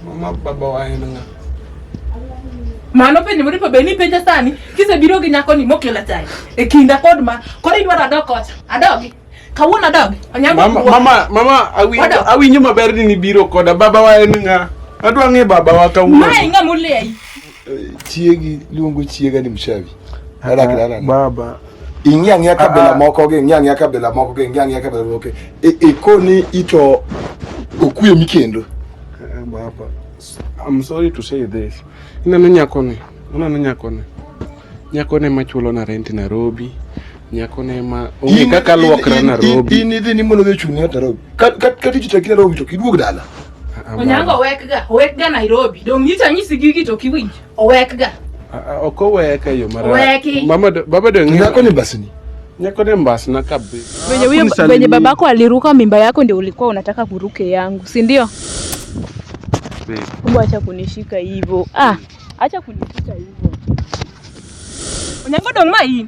Mama baba wa en ng'a? Mano penjo mori pa beni penja sani kisebiro gi nyako ni mokela chai e kinda kod ma koro idwaro adok kocha adogi kawuono adogi onyango mama mama mama awinjo awinjo maber ni nibiro koda baba wa en ng'a adwa ng'e baba wa kawuono mae ng'a muleyi Eh, chiegi luongo chiega ni mshavi. Adak dala. Baba. Ing'e ang'e kabila ah, ah. moko gi, ing'e ang'e kabila moko gi, ing'e ang'e kabila moko. E, e koni ito okwe mikendo. Eh, baba. I'm sorry to say this. Inano nyakoni. Inano nyakoni. Nyakoni machulo na rent Nairobi. Nyako ne ma onge kaka luokra Nairobi. In idhi ni mondo odhi ochung' ng'at Nairobi. Ka ka ka tiji tek Nairobi to kiduog dala. Onyango owekga, owekga Nairobi. Dong' nyicha nyisi gigi to kiwinj. Owekga. Ok oweka yo mara. Oweki. Mama do- baba do ng'e. Nyako ni basni. Nyako ne mbasna kabisa. Venye huyo Hakunisalimia. venye babako aliruka mimba yako ndio ulikuwa unataka kuruke yangu, si ndio? Babe. Kumbe acha kunishika hivyo. Ah, acha kunishika hivyo. Onyango dong' ma in.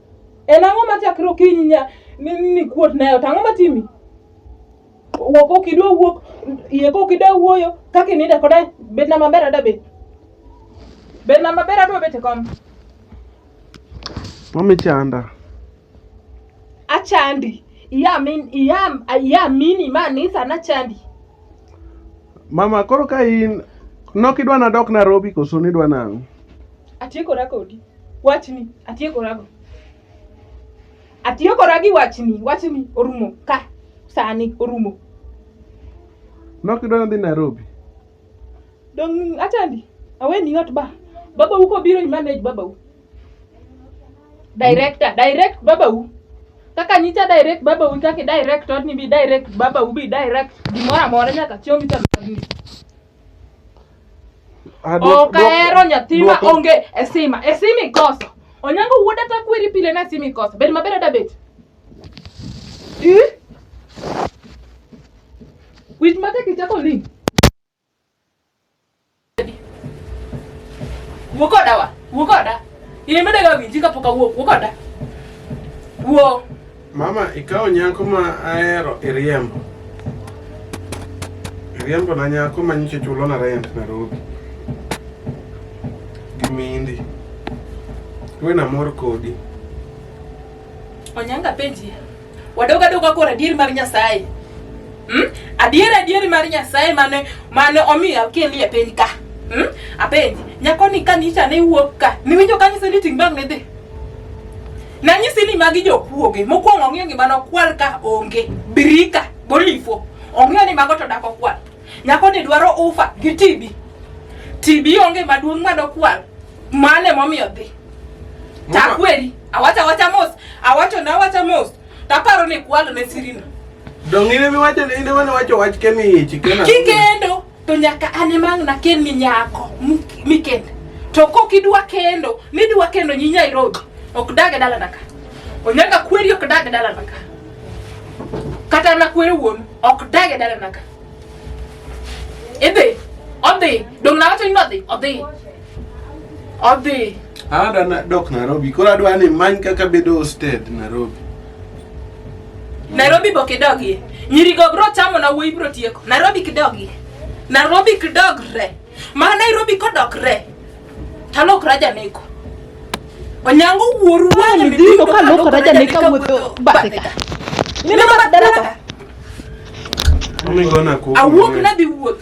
En ang'o ma chakre okinyi nya ni ni kuot nayo to ang'o matimi? Wuok ok idwa wuok, iye kok idwa wuoyo, kaka ininde koda bedna maber ada bet. Bedna maber adwa bet e kom. Mami chanda. Achandi. Iya min iya iya mini ma ni sana chandi. Mama koro ka in nok idwa nadok Nairobi koso nidwa nang'o? Atiekora kodi. Wachni atiekorago. Atiekora gi wachni, wachni orumo ka sani orumo. Nok idwaro dhi Nairobi. Dong achandi, aweni ot ba. Baba uko biro i manage baba u. Director, direct baba u. Kaka nyicha direct baba u kaka direct odni bi direct baba u bi direct gimoro amora nyaka chieng' ichalo odni. Ah, duok- Ok duok- ahero nyathi ma duok- onge e sima. E sima ikoso. Onyango wuod ata kweri pile na sima ikoso. Bed maber ada bet. Ih? Wich mate kichako link. Wuo koda wa. Wuo koda. In imedaga winji kapok awuok. Wuo koda. Wuo. Mama, ikawo nyako ma ahero iriembo. Iriembo na nyako ma nyiche chulo na rent Nairobi. Gimindi. Tuwe na mor kodi. Onyanga penji. Wadoga doga kora dir mar Nyasaye. Hmm? Adier adier mar Nyasaye mane mane omiyo akeli e piny ka. Hmm? Apenji, nyako ni kanicha ne wuok ka. Niwinjo kanyiso ni ting' bang' ne dhi. Nanyisi ni magi jokuoge. Mokwongo ong'eyo gima nokwal ka onge. Birika golifo. Ong'eyo ni mago to dak okwal. Nyako ni dwaro ufa gi tibi. Tibi onge maduong' ma dokwal. Mane momiyo dhi. Takweri. Awacha awacha mos. Awacho na awacha mos. Taparo ni kwalo ne sirino. Dong'ine miwacho ni inde mane wacho wach kemi ichi kena. Kikendo. to nyaka an ema ang' nakelni nyako mik- mikend to kok idwa kendo nidwa kendo nyi Nairobi ok dag e dalana ka onyaga kweri ok dag e dalana ka kata na kwere wuon ok dag e dalana ka idhi odhi dong nawacho ni nodhi odhi odhi Adwa na- dok Nairobi. Koro adwa ni many kaka bedo hosted Nairobi. Nairobi bok idogie. Nyirigo bro chamo na wuoyi bro tieko. Nairobi kidogie. Nairobi kidogre. Ma Nairobi kodokre. Talok raja neko. Onyango wuoru wale midiko ka lok raja neka wuotho bateka. Nina bat daraka. Awuok na dhi wuoth.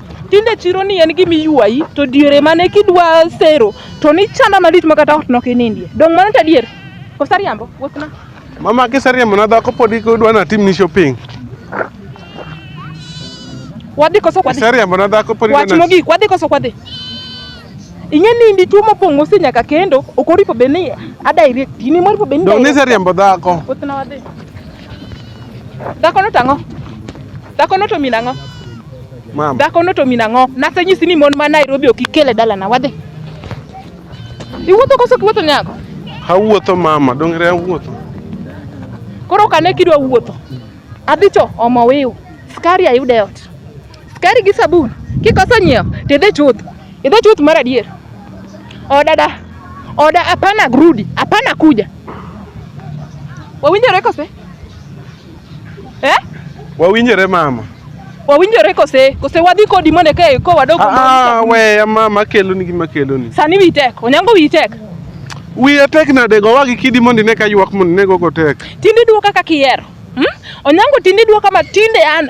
Tinde chiro ni en gima iywayi to diere mane kidwa sero to ni chanda malich ma kata ot nok inindie. Dong mano ta dier. Kosa riambo, wuothna. Mama kiseriembo na dhako pod idwa natim ni shopping. Wadhi koso kwadhi. Kiseriembo na dhako pod Wach idwa na mogik, wadhi koso kwadhi. Ing'e ni ndi tuo mopong'o si nyaka kendo, ok oripo be ni a direct, ni moripo be ni Dong direct. niseriembo dhako. Wuothna wadhi. Dhako no tang'o. Dhako no to min ang'o? Mama. Dhako no to min ang'o? Nasenyisi ni mon ma Nairobi ok ikele dalana wadhi. Iwuotho koso kiwuotho nyako? Awuotho mama, dongre awuotho. Koro kane kidwa wuotho. Adhicho omo wiu. Skari ayude ot. Skari gi sabun kikoso nyiewo to idhi chuth, idhi chuth mar adier. Oda da, oda hapana grudi, hapana kuja. Wawinjore kose? Eh? Wawinjore mama. Wawinjore kose? Kose wadhi kodi mondo eka iko wadog Ah, ah, weya mama akeloni gima akeloni. Sani wiyi tek, onyango wiyi tek. Wiya tek nade gowa gi kidi mondo ine ka ywak mondo ine gogo tek. Tinde idwoka kaka ihero. Hmm? Onyango tinde idwoka ma tinde an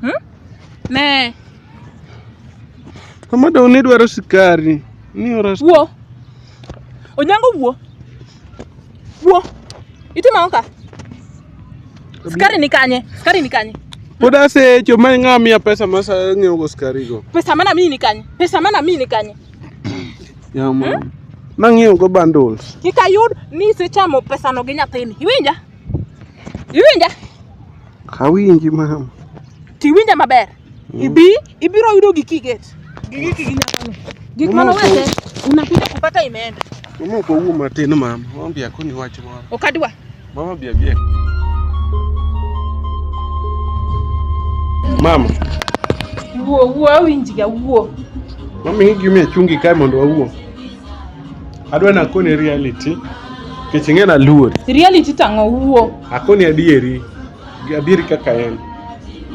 Hmm? Ne. Mama dong ni dwaro sikari. Ni ora. Wuo. Onyango wuo. Wuo. Itimo ka? Sikari ni kanye? Sikari ni kanye? Pod asecho ma ng'a miya pesa ma ng'iewo go skari go. Pesa mana mimi ni kanye? Pesa mana mimi ni kanye? Yama. Hmm? Nang'iewo go bundles. Kik ayud ni isechamo pesano gi nyathini. Iwinja? Iwinja? Awinji mama. Tiwinja maber. Mm. Ibi ibiro yudo giki get. Giki giki nyakano. Gik mano wete unakuja kupata imeenda. Mama kwa huo matin mama. Mama bia kuni wacho mama. Okadwa. Mama bia bia. Mama. Wuo wuo awinji ga wuo. Mama hiki mimi chungi kai mondo wawuo. Adwa nakoni reality nikech ing'e naluori. Reality tang'o wuo. Akoni adieri. Adieri kaka en.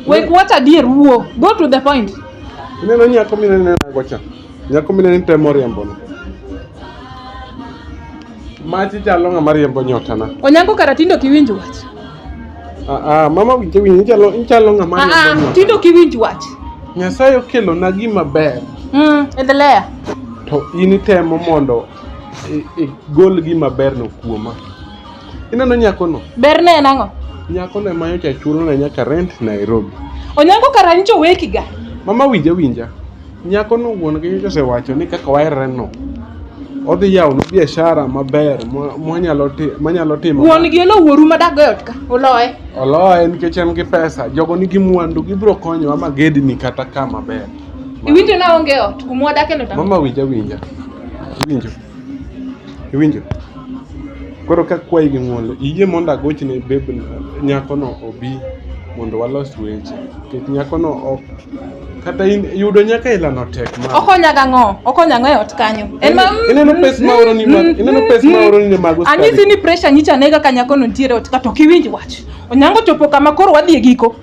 Wek what adier wuo. Go to the point. Ineno nyako minene nago cha. Nyako minene temo riambo no. Machi chalo ng'ama riembo nyotana. Onyango karatindo kiwinjo wach. Ah, ah, mama winje winje ichalo ichalo ng'ama Ah, ah, riambo tinde ok iwinj wach. ng'ama. Nyasaye okelona gima ber Mm, endelea. to in itemo mondo i- igol gima berno kuoma. Ineno nyakono? Berne en ang'o? Nyakono ema nyocha chulona nyaka rent Nairobi. Onyango kara nyicha owekiga. Mama winja winja. Nyakono wuon gi nyocha osewacho ni kaka waherreno odhi yawonu biashara maber ma- mwanyalo ti- manyalo timo Wuon gi olo wuoru ma dago e ot ka. Oloye. oloye nikech en gi pesa jogo nigi mwandu gibiro konyowa ma gedni kata ka maber Iwinjo na onge ot. Kumwa dakeno tamo. mama winja winja iwinjo Iwinjo? Koro ka kwayi gi ng'uono, iyie mondo agochne beb nyakono obi mondo walos weche. Nikech nyakono ok kata in yudo nyaka ilano tek ma. Okonya gang'o? Okonya ng'o e ot kanyo? En ma Ineno pes ma oroni ma ineno pes ma oroni ne mago skari. Anyisi ni pressure nyicha nega ka nyakono nitiere e ot ka to ok iwinj wach. Onyango chopo kama koro wadhi e giko.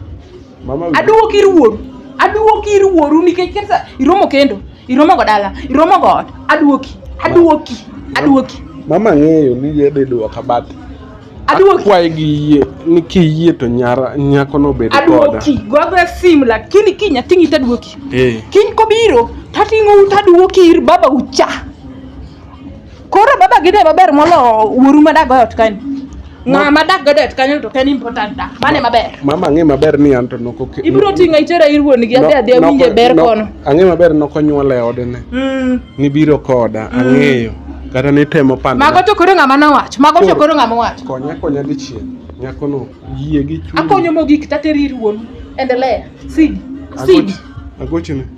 Mama winjo. Aduogo ir wuoru. Aduogo ir wuoru nikech kesa iromo kendo. Iromo go dala, iromo go ot. Aduoki, aduoki, aduoki. Mama ng'eyo ni yedhe duoka but Aduoki. akwaye gi yie ni kiyie to nyara nyako no bed koda. Aduoki, gogoya simu lakini kiny ating'i taduoki. Eh. Kiny kobiro, tating'ou taduoki ir baba ucha. Koro baba gide maber molo wuoru ma dak goyo tkani. Ng'a ma dak goyo tkani to ken important da. Mane maber. Mama ang'e maber ni anto noko ke. Ibro tinga itera ir wuon gi adhi adhi awinje ber kono. Ang'e maber noko nyuola e ode ne. Mm. Ni biro koda mm. ang'eyo. Kata ni temo panda. Mago to koro ng'a ma nowach. Mago to koro ng'a ma wach. Konya konya dichiel. Nyako no yie gi chuny. Akonyo mogik tateri ir wuon. Endelea. Sidi. Sidi. Agochini.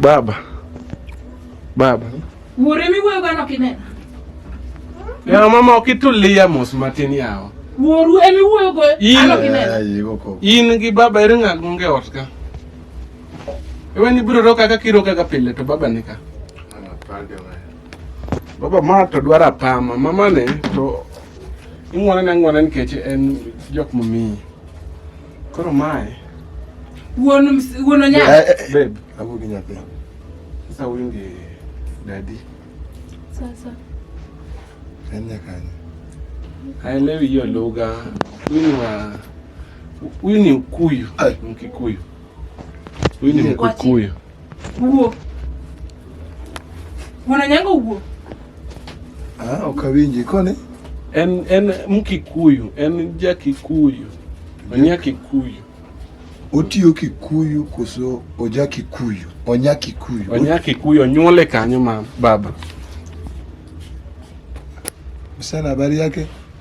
Baba, baba, wuore miwuoyo gano kinena ya mama okitulia mos matin yawa wuoru emiwuoyo go ano kinena in gi baba ere ng'at monge ot ka ewe ni biro ro kaka kiro kaka pile to baba nika Baba ma to dwara pama mama ne to ing'wane na ng'wane nikech en jok mamiyi. Koro mae. Wuon wuon onya. Eh, eh, eh. Babe, abu gi nyathi. Sasa wingi dadi. Sasa. En nyakani. Haelewi hiyo lugha. Huyu ni wa huyu ni Mkuyu, Mkikuyu. Huyu ni Mkikuyu. Wuo. Wuon nyango wuo. Ah, ok awinji koni. En en mkikuyu, en ja Kikuyu. Onya Kikuyu. Otiyo Kikuyu koso oja Kikuyu? Onya Kikuyu. Onya Kikuyu onyuole kanyo ma baba. Msana habari yake?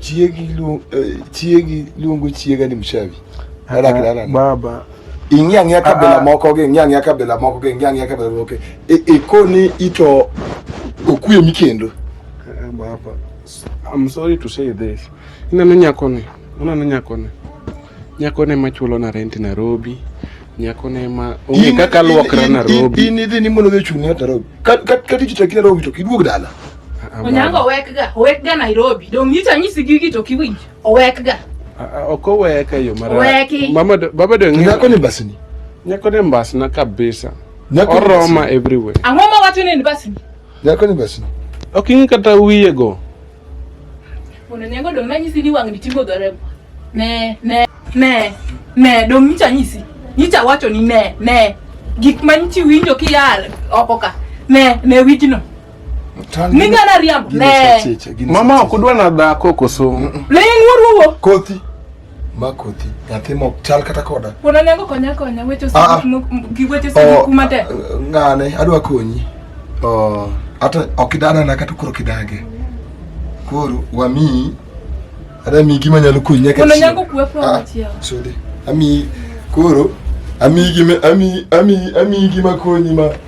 Chiegi lu, eh, chiegi luongo chiega ni mshavi. Ala kala baba. Ing'e ang'e kabila moko gi, ing'e ang'e kabila moko gi, ing'e ang'e kabila moko. E, e koni ito okwe mikendo. Eh, baba. I'm sorry to say this. Inano nyako ni, unano nyako ni. Nyako ne machulo na rent Nairobi. Nyako ne ma onge kaka luokra Nairobi. Ini dhi ni mono dhi chuni Nairobi. Kat kat kat ichitaki Nairobi to kiduog dala. Onyango owekga, owekga Nairobi. Dong nyicha nyisi gigi to kiwinj. Owekga. Ok oweka yo mara. Oweki. Mama baba do ng'e. Nyako ni basni. Nyako ni basna kabisa. Nyako oroma everywhere. Ang'o ma wacho ni basni? Nyako ni basni. Ok ing'e kata wiye go. Mondo nyango do manyisi ni wang'ni tingo dore. Ne, ne, ne, ne, do nyicha nyisi. Nyicha wacho ni ne, ne. Gik manyichi winjo kiyal oko ka. Ne, ne wijno. Minga na riambo. Ne. Mama ok dwa na dhako koso. Ling wuruwo. Kothi. Ma kothi. Nyathi mok chal kata koda. Wona nengo konya konya weche ah, ah. sik gi weche sik oh, kuma te. Ngane adwa konyi. Oh, ata ok idana na kata kuro kidage. Koro wami ada mi gima nyalo konyi nyaka. Wona nengo kuwe kwa ah, chiao. Sodi. Ami koro ami gima ami ami ami gima konyi ma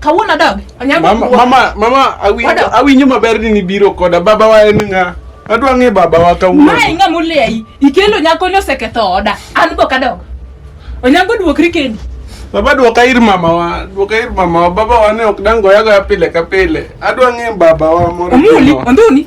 Kawuono dog. Onyango. Mama mama mama awi awi nyuma ber ni biro koda baba wa en nga. Adwa ng'e baba wa kawuono. Mae ng'a moleyi. Ikelo nyako ni oseketho oda. An bo kadog. Onyango duokri kendi. Baba duoka ir mama wa. Duoka ir mama wa. Baba wa ne ok dango yago ya pile ka pile. Adwa ng'e baba wa moro. Omuli, onduni.